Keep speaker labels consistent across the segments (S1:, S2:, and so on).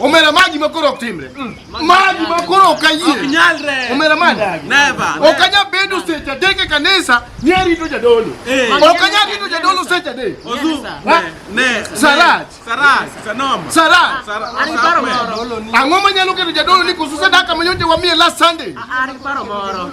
S1: Omera maji makoro ok timre. Mm. Maji makoro ok ayie. Ok nyalre. Omera maji. Never. Ok anya
S2: bedo
S1: seche adek e kanisa ni arito jadolo. Eh. Ok anya rito jadolo seche adek. Ozu.
S2: Ne. Saraj.
S1: Saraj. Sanom.
S2: Saraj. Ari
S1: paro
S3: moro. Ang'o manyalo keto
S1: jadolo ni koso sadaka manyote wamiye last Sunday? Ari paro moro.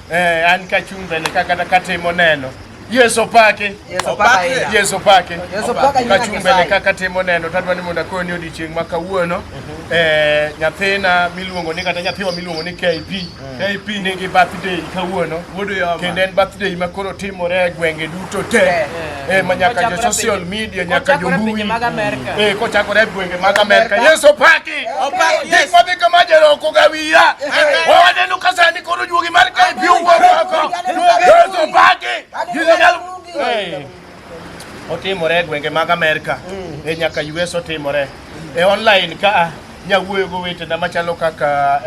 S1: Eh, an ka chung' bende ka kata katimo neno Yesu pake. Yesu pake. Yesu pake. Yesu pake. Ka chung' bende ka katimo neno to adwa ni mondo akoni ni odiechieng' ma kawuono mhm. eh, nyathina miluongo ni kata nyathiwa miluongo ni KP. Mm. KP nigi birthday kawuono. Kendo en birthday ma koro timore e gwenge duto te. Eh, ma nyaka jo social media nyaka jo mbui eh, kochakore e gwenge mag Amerka. Yesu opaki gik madhi kama jeroko gawiya wawaneno ka sani koro juogi mar kae pi owuok oko. Yesu opaki eh, otimore e gwenge mag Amerka mm. e nyaka US otimore e online ka nyawuoyo go wetena machalo kaka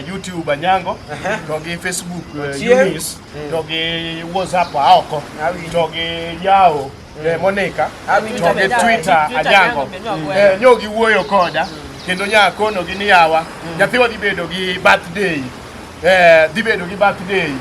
S1: YouTube Anyango to gi Facebook Eunice mm. togi whatsapp aoko togi yawo mm. eh, monika togi twitter ajango eh, nyogi wuoyo koda mm. kendo nya konogi ni yawa mm. nyathiwa dhi bedo gi birthday eh, dhi bedo gi birthday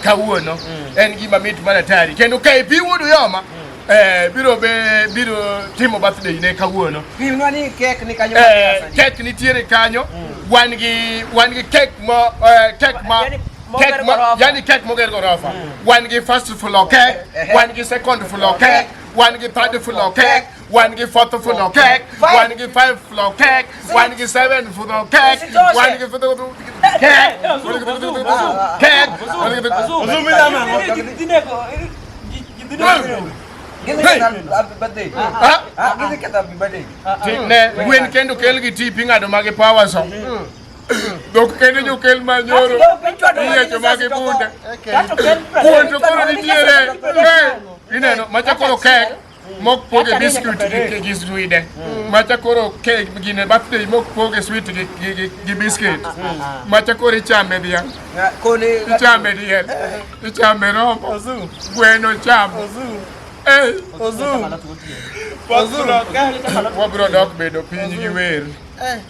S1: kawuono mm. en gima mit mana tari kendo ka ipi wuodu yoma mm. eh, biro be biro timo birthday ne kawuono pimnwa ni kek
S4: ni kanyo eh, kek nitiere
S1: kanyo mm. wan gi wan gi kek mo eh, kek ma yani, kek yani kek moger gorofa wan gi first floor kek wan gi second floor kek wan gi third floor kek wan gi fourth floor kek wan gi five floor kek wan gi seven floor kek wan gi kek kek ne gwen kendo kel gi tipi ng'ado magi power so Dok kene jo kel ma nyoro. Iya jo magi bunda. Kuon to koro nitiere. Ineno macha koro kek mok poge biscuit gi gi swide. Macha koro kek gine birthday mok poge sweet gi gi gi biscuit. Macha koro ichame bia. Kone ichame diel. Ichame rombo. Gweno cham. Eh. Ozu. Ozu. Wabro dok bedo piny gi wer.